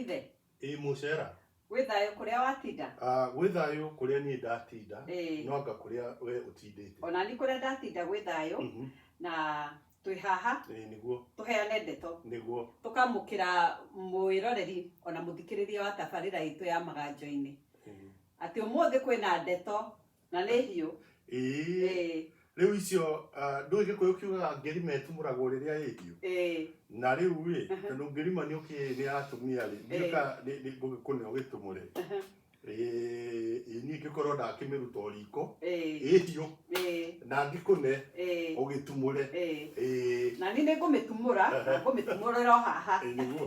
ithe ĩ mũcera wĩ thayũ kũrĩa watinda Ah, gwĩ thayũ kũrĩa niĩ ndatinda Ĩĩ. no anga kũrĩa we ũtindĩte ona ni kũrĩa ndatinda gwĩ thayũ Mhm. na twĩ haha Ĩĩ, nĩguo tũheane ndeto nĩguo tũkamũkĩra mwĩroreri ona mũthikĩrĩria wa tabarĩra itũ ya maganjo-inĩ Ĩĩ. atĩ ũmũthĩ kwĩna ndeto na nĩ hiũ ĩĩ Ĩĩ, rĩu icio ah, ndũĩ gĩkũyũ kiugaga ngerima ĩtumũragwo rĩrĩa ĩhiũ ĩĩ, na rĩu rĩ tondũ ngerima nĩ ũkĩ nĩ atumia rĩ Ĩĩ. ndiũka ngũgĩkũnĩ ũgĩtumũre niĩ ngĩkorwo ndakĩmĩruta o riko ĩĩ, ĩhiũ ĩĩ, na ngĩkũne ĩĩ, ũgĩtumũre ĩĩ. ĩĩ na niĩ nĩ ngũmĩtumũra na ngũmĩtumũrĩra o haha nĩguo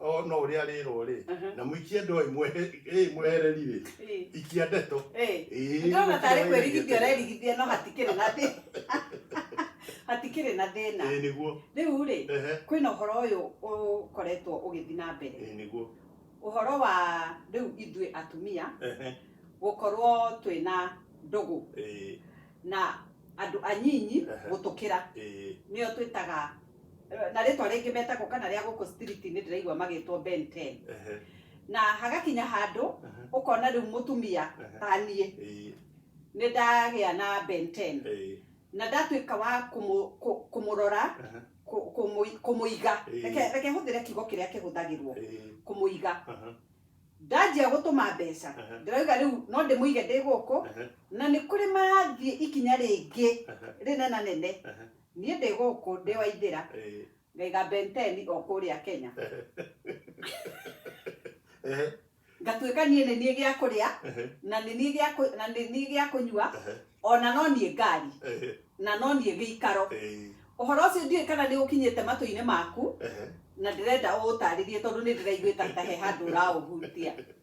o no ũrĩa rĩrwo rĩ Aha. na mũikie ndoĩ mwehe- ĩ, mwehereri rĩ Ĩ. ikia ndeto Ĩ. Ĩ, ndona tarĩ gũkĩra kwĩrigithia wĩrigithia. ũrerigithia no hatikĩrĩ na thĩna hatikĩrĩ na thĩna ĩ nĩguo rĩu rĩ ehe kwĩna ũhoro ũyũ ũkoretwo ũgĩthiĩ na mbere ĩ nĩguo ũhoro wa rĩu ithuĩ atumia ehe gũkorwo twĩna ndũgũ ĩ na andũ anyinyi Ehe. gũtũkĩra ĩ nĩo twĩtaga eh, na rĩtwa rĩngĩ metagwo kana rĩa gũkũ street-inĩ ndĩraigua magĩtwo Ben 10 Ehe, na hagakinya handũ ehe, ũkona rĩu mũtumia ehe. ta niĩ Ĩĩ, nĩ ndagĩa na Ben 10 ĩĩ, na ndatuĩka wa kũmũ- kũ- kũmũrora ehe, kũ- kũmũ- kũmũiga Ĩĩ. Reke- reke hũthĩre kiugo kĩrĩa kĩhũthagĩrwo ĩĩ, kũmũiga aha, ndanjia gũtũma mbeca Aha. ndĩrauga rĩu no ndĩmũige ndĩ gũkũ aha, na nĩ kũrĩ marathiĩ ikinya rĩngĩ aha, rĩnena nene aha, Niĩ ndĩ gũkũ ndĩ Waithĩra, ngaiga Benteni o kũrĩa Kenya. Ngatuĩka niĩ nĩ niĩ gĩa kũrĩa, na nĩ niĩ gĩa kũ- na nĩ niĩ gĩa kũnyua, o na no niĩ ngari, na no niĩ gĩikaro. Ũhoro ũcio ndiũĩ kana nĩ ũkinyĩte matũ-inĩ maku, na ndĩrenda ũũtaarĩrie tondũ nĩ ndĩraiguĩka ta he handũ ũraũhutia.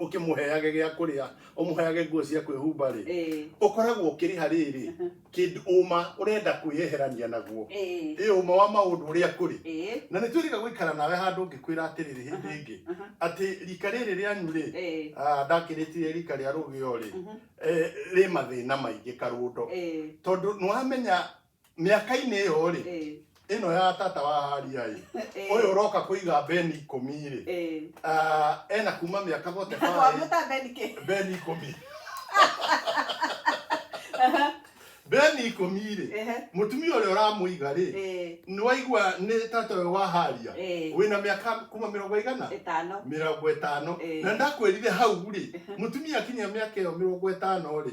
ũkĩmũheage gĩa kũrĩa ũmũheage nguo cia kwĩhumba rĩ Eh. ũkoragwo ũkĩrĩha rĩrĩ Mhm. kĩndũ ũma ũrenda kwĩyeherania naguo Eh. ĩ ũma wa maũndũ ũrĩa kũrĩ Eh. na nĩ twĩrĩga gũikara nawe handũ ũngĩkwĩra atĩrĩrĩ hĩndĩ ĩngĩ Aha. atĩ rika rĩrĩ rĩanyu rĩ Eh. ah, ndakĩrĩtire rika rĩa rũgĩo rĩ Mhm. eh, rĩ mathĩna maingĩ karũndo Eh. tondũ nĩwamenya mĩaka-inĩ ĩyo rĩ Eh, ĩno ya tata wa haria ĩ eh, ũyũ ũroka kũiga beni ikũmi rĩ eh. ah, ena kuma mĩaka bote Wa baĩ mũta Ben kĩ? beni ikũmi beni ikũmi rĩ Ehe. mũtumia ũrĩa ũramũiga rĩ Eh, nĩwaigua nĩ tata ũyũ wa haria Eh. wĩna mĩaka kuma mĩrongo igana ĩtano. mĩrongo ĩtano Eh. na ndakwĩrire hau rĩ mũtumia akinyia mĩaka ĩyo mĩrongo ĩtano rĩ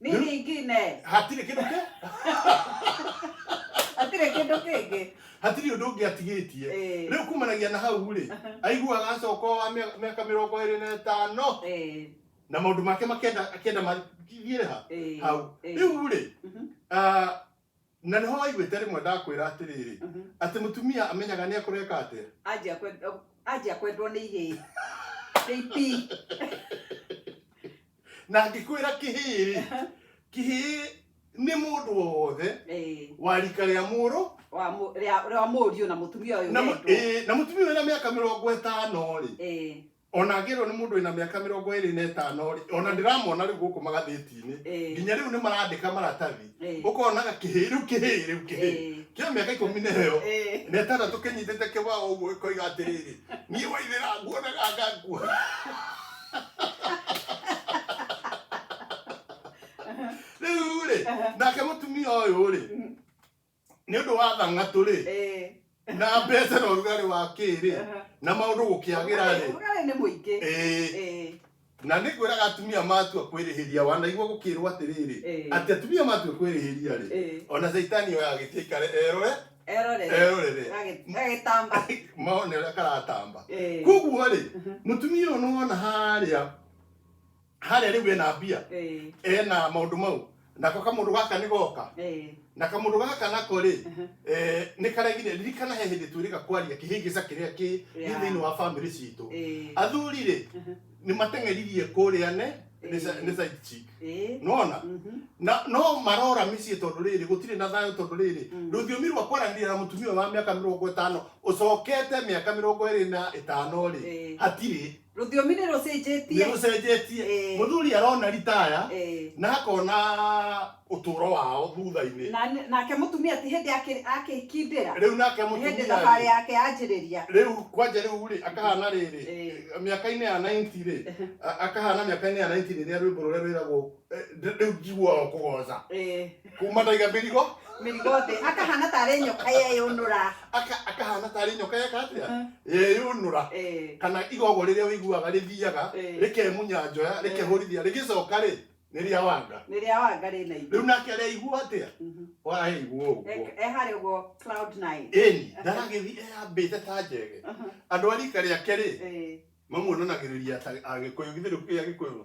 Nini Nĩ- ingĩ ne. hatirĩ kĩndũ kĩ Atirĩ kĩndũ kĩngĩ. hatirĩ ũndũ ũngĩ atigĩtie Eh. rĩu kumanagia na hau rĩ aiguaga acoka wa mĩaka mĩaka mĩrongo ĩrĩ na ĩtano Eh, na maũndũ make makenda akenda mathiĩre ha eh, hau eh. rĩu rĩ Mhm. ah, Na nĩho waiguĩte rĩmwe ndakwĩra atĩrĩrĩ, Mhm. atĩ mũtumia amenyaga nĩ ekũreka atĩa. anjia kwendwo- anjia kwendwo nĩ ihĩĩ kĩipi Na ngĩkwĩra kĩhĩĩ-rĩ, kĩhĩĩ nĩ mũndũ wothe Eh, wa rika rĩa mũrũ wa mũ- rĩa- rĩa mũriũ na mũtumia ũyũ na mũ- wendwo. ĩĩ, na mũtumia ũyũ na mĩaka mĩrongo ĩtano-rĩ, Eh, ona ngĩrwo nĩ mũndũ wĩna mĩaka mĩrongo ĩrĩ na ĩtano rĩ ona ndĩramona rĩu gũkũ magathĩti-inĩ Eh. nginya rĩu nĩ marandĩka maratathi Eh. ũkonaga kĩhĩĩ rĩu kĩhĩĩ rĩu kĩhĩĩ Eh. kĩa mĩaka ikũmi na ĩyo Eh. na ĩtandatũ kĩnyitĩte kĩbao ũguo ĩkoiga atĩrĩrĩ niĩ waithĩra nguonaga ngakua rĩu rĩ nake mũtumia ũyũ rĩ nĩ ũndũ wa thang'atũ rĩ Eh, na mbeca na ũrugarĩ wa kĩrĩ aha. na maũndũ gũkĩagĩra Ũrugarĩ- rĩ ũrugarĩ nĩ mũingĩ Eh, Eh, na nĩ kwĩraga atumia matua kwĩrĩhĩria wanaigua gũkĩrwo atĩrĩrĩ Eh. atĩ atumia matua kwĩrĩhĩria rĩ Eh. ona caitani oya agĩtia ikare erore erorere erorere Agĩ- agĩtamba maone ũrĩa karatamba Eh. koguo rĩ mũtumia ũyũ nĩwona harĩa harĩa rĩu ena mbia Eh, ena maũndũ mau nako kamũndũ gaka nĩ goka eh, na kamũndũ gaka nako rĩ Mhm. eh, nĩ karĩa nginya ririkana he hĩndĩ twĩrĩga kwaria kĩhĩngĩca kĩrĩa kĩ gĩ Yeah. thĩinĩ wa bamĩrĩ citũ eh, athuri rĩ Mhm. nĩ mateng'eririe kũrĩa ne nĩ sa- Eh. nĩ side chick eh, nona mhm, na no marora mĩciĩ tondũ rĩrĩ gũtirĩ na thayũ tondũ rĩrĩ Mm. rũthiomi rwa kwaranĩria na mũtumia wa mĩaka mĩrongo ĩtano ũcokete mĩaka mĩrongo ĩrĩ na ĩtano rĩ Eh. hatirĩ rũthiomi nĩ rũcenjetie nĩ rũcenjetie Eh. mũthuri arona ritaya Eh. na akona ũtũũro wao thutha-inĩ Na- nake mũtumia ti hĩndĩ akĩ- akĩkindĩra rĩu nake Nĩ hĩndĩ mũtumia thabarĩ yake yanjĩrĩria rĩu kwanja rĩu rĩ akahana rĩrĩ Eh. mĩaka-inĩ ya 90 rĩ a- akahana mĩaka-inĩ ya 90 rĩrĩa rwĩmbo rũrĩa rwĩragwo rĩu njiguaga o kũgoca Eh, kuma taiga mĩrigo mĩrigo thĩ akahana tarĩ nyoka yeyũnũra aka- akahana tarĩ nyoka yeka atĩa Mhm. yeyũnũra Eh, kana igogo rĩrĩa ũiguaga rĩthiaga Eh. rĩkemunya njoya Eh. rĩkehũrithia rĩgĩcoka rĩ nĩ rĩa wanga nĩ rĩa wanga rĩ na rĩu nake arĩaigua atĩa Mhm. waraigua ũguo Eh, eh, harĩ ũguo cloud nine ĩni ndaragĩthiĩ eyambĩte ta njege Mhm. andũ a rika rĩake rĩ Eh, mamuonanagĩrĩria ta agĩkũyũ githĩ rĩu kĩrĩa gĩkũyũ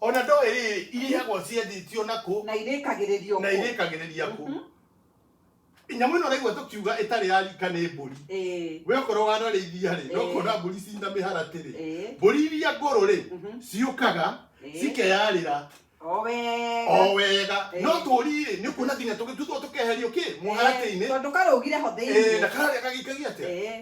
o na ndoĩ rĩrĩ irĩhagwo ciendĩtio na kũ na irĩkagĩrĩrio na kũ. irĩkagĩrĩria kũ Mhm. nyamũ ĩno ũraigua tũkiuga ĩtarĩ ya rika nĩ mbũri Ĩĩ, we okorwo wanarĩithia rĩ no Ĩĩ. kuona mbũri cina mĩharatĩ rĩ ĩĩ, mbũri iria ngũrũ rĩ mhm, ciũkaga ĩĩ. cikeyarĩra O wega. o wega Ĩĩ. no tũri rĩ nĩ kuona nginya tũgĩtuthwo tũkeherio kĩ mũharatĩ-inĩ Ĩĩ, tondũ karũgire ho Ĩĩ, na thĩinĩ kararĩa gagĩikagia atĩa Ĩĩ.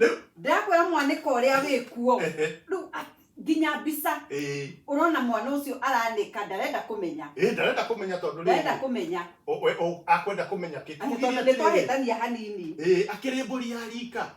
Rĩu ndakwĩra mwanĩka ũrĩa wĩ kuo ehe, rĩu a- nginya mbica ĩĩ, ũrona mwana ũcio aranĩka ndarenda kũmenya ĩĩ, ndarenda kũmenya tondũ ndarenda rĩrĩ, kũmenya o- we- o- akwenda kũmenya kĩ Atĩ tondũ nĩ twahĩtania hanini Ĩĩ, akĩrĩ mbũri ya rika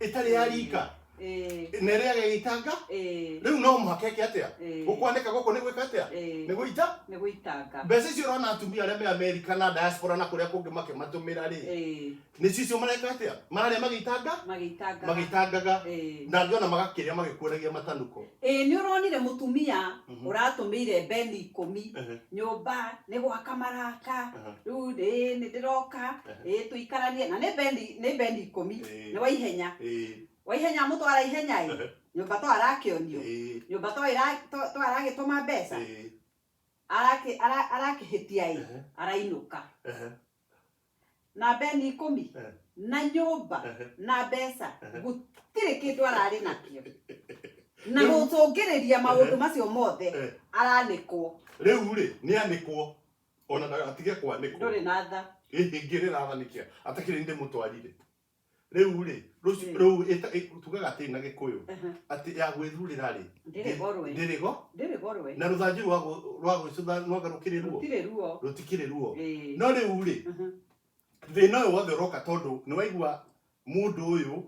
ĩtarĩ ya rika Eh, na ĩrĩa agagĩitanga eh, rĩu no mũhaka eke atĩa eh, gũkwanĩka gũkũ nĩ gwĩka atĩa eh, nĩ gũita nĩ gũitanga mbeca icio ũrona atumia arĩa me amerika na diaspora na kũrĩa kũngĩ makĩmatũmĩra rĩ Eh, nä cicio mareka atä a mararä a magäitanga magĩitanga magäitangaga Ĩĩ. na angä ona magakä rä a magä kuoragia matanukå ĩĩ nĩ ũronire mũtumia Mhm. ũratũmĩire mbeni ikũmi nyũmba nĩ gwaka maraka Aha. rĩu ĩĩ nĩ ndĩroka Aha. ĩĩ tũikaranie na nĩ mbeni nĩ mbeni ikũmi Ĩĩ. nĩ wa ihenya wa ihenya mũtwara ihenya ĩ Aha. nyũmba to arakĩonio nyũmba to ĩra- to- to aragĩtũma mbeca arakĩ- ara- arakĩhĩtia ĩ arainũka na beni ikũmi Eh. na nyũmba Ehe. na mbeca Ehe. gũtirĩ kĩndũ ararĩ nakĩo na Rĩu- gũcũngĩrĩria maũndũ Ehe. macio mothe Eh. aranĩkwo rĩu rĩ nĩ anĩkwo ona ndagatige kwanĩkwo ndũrĩ na tha ĩhĩngĩrĩra athanĩkia atakĩrĩ ndĩ mũtwarire rĩu rĩ rũci- rĩu ĩta- ĩ- tugaga atĩ na gĩkũyũ atĩ ya gwĩthurĩra rĩ ndĩrĩ gorwe ndĩrĩgo ndĩrĩ gorwe na rũthanju rwa gũ- rwa gwĩcũtha rwaga rũkĩrĩ ruo gũtirĩ ruo rũtikĩrĩ ruo Ĩĩ. no rĩu rĩ Mhm. thĩna ũyũ wothe ũroka tondũ nĩ waigua mũndũ ũyũ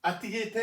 atigĩte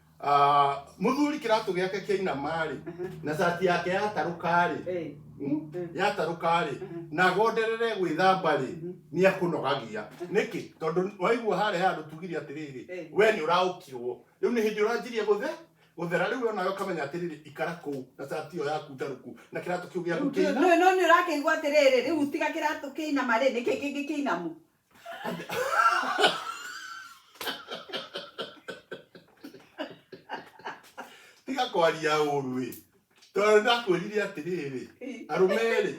Ah, muthuri kiratu giake kiainama-rĩ na cati yake yatarũka-rĩ Eh, mm, Mm. yatarũka-rĩ Mhm. na agonderere gwĩthamba-rĩ Mhm. nĩ akũnogagia nĩkĩ tondũ waigua harĩa handũ tugire atĩrĩrĩ Eh. we nĩ ũraũkirwo rĩu nĩ hĩndĩ ũranjirie gũthe gũthera rĩu we nawe ũkamenya atĩrĩrĩ ikara kũu na cati ĩyo yaku ndarũku na kĩratũ kĩu gĩaku rĩu kĩina no no nĩ ũrakĩigua atĩrĩrĩ rĩu tiga kĩratũ kĩinama rĩ nĩkĩ kĩngĩ kĩinamu tiga kwaria ũru ĩ tondũ ndakwĩrire atĩrĩrĩ arũme rĩ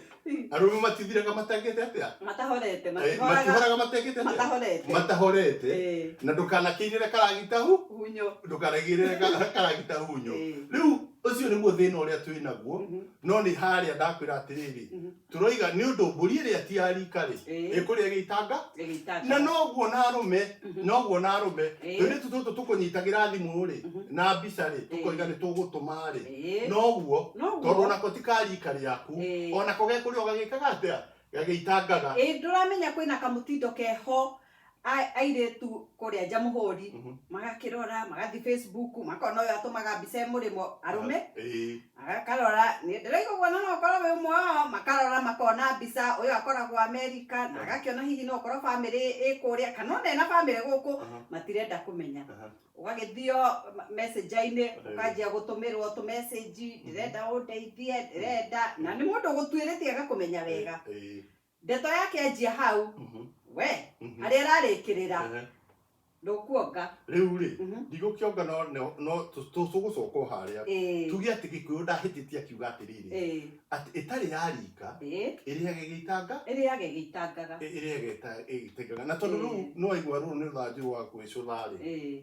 arũme matithiraga matangĩte atĩa matahorete Eh, matihoraga matihoraga matangĩte atĩa matahorete matahorete Eh, na ndũkanakĩirĩre karagita hu hunyo ndũkanagĩrĩre ka- karagita hunyo Eh. rĩu ũcio nĩguo thĩna ũrĩa twĩ naguo Mhm, no nĩ harĩa ndakwĩra atĩrĩrĩ mhm. tũroiga nĩ ũndũ mbũri ĩrĩa ti ya rika rĩ Ĩĩ. ĩkũrĩa ĩgĩitanga Ĩgĩitanga. na noguo na arũme noguo na arũme Ĩĩ. tũirĩtu tũtũ tũkũnyitagĩra thimũ rĩ na mbica rĩ tũkoiga nĩ tũgũtũma rĩ Ĩĩ. noguo Noguo. tondũ onako ti ka rika rĩaku Ĩĩ. onako gekũrĩa ũgagĩkaga atĩa gagĩitangaga Ĩĩ ndũramenya kwĩna kamũtindo keho A- airĩtu kũrĩa nja mũhũri Mhm. magakĩrora magathiĩ facebook makona ũyũ atũmaga mbica ĩ mũrĩmo arũme Ĩĩ. agakarora nĩ ndĩraiga ũguo na no ũkorwo wĩ ũmwe wao makarora makona mbica ũyũ akoragwo amerika na agakĩona hihi no ũkorwo bamĩrĩ ĩ kũrĩa kana ona ena bamĩrĩ gũkũ Aha. matirenda kũmenya Aha. ũgagĩthio messenjainĩ Ĩĩ. ũkanjia gũtũmĩrwo tũmessenji ndĩrenda ũndeithie ndĩrenda na nĩ mũndũ ũgũtuĩrĩtie agakũmenya wega Ĩĩ. ndeto yake anjia hau Mhm, we mhm. harĩa ĩrarĩkĩrĩra Ehe. ndũkuonga rĩu rĩ Mhm. ndigũkĩonga no- no- no tũ- tũ- tũgũcoka o harĩa Ĩĩ, tuge atĩ gĩkũyũ ndahĩtĩtie akiuga atĩrĩrĩ ĩĩ, atĩ ĩtarĩ ya rika ĩĩ, ĩrĩage gĩitanga ĩrĩage gĩitangaga ĩ- ĩrĩage ĩta- ĩgĩtengaga na tondũ rĩu Ĩĩ. nĩwaigua rũrũ nĩ rũthanju rwa gwĩcũtha rĩ Ĩĩ,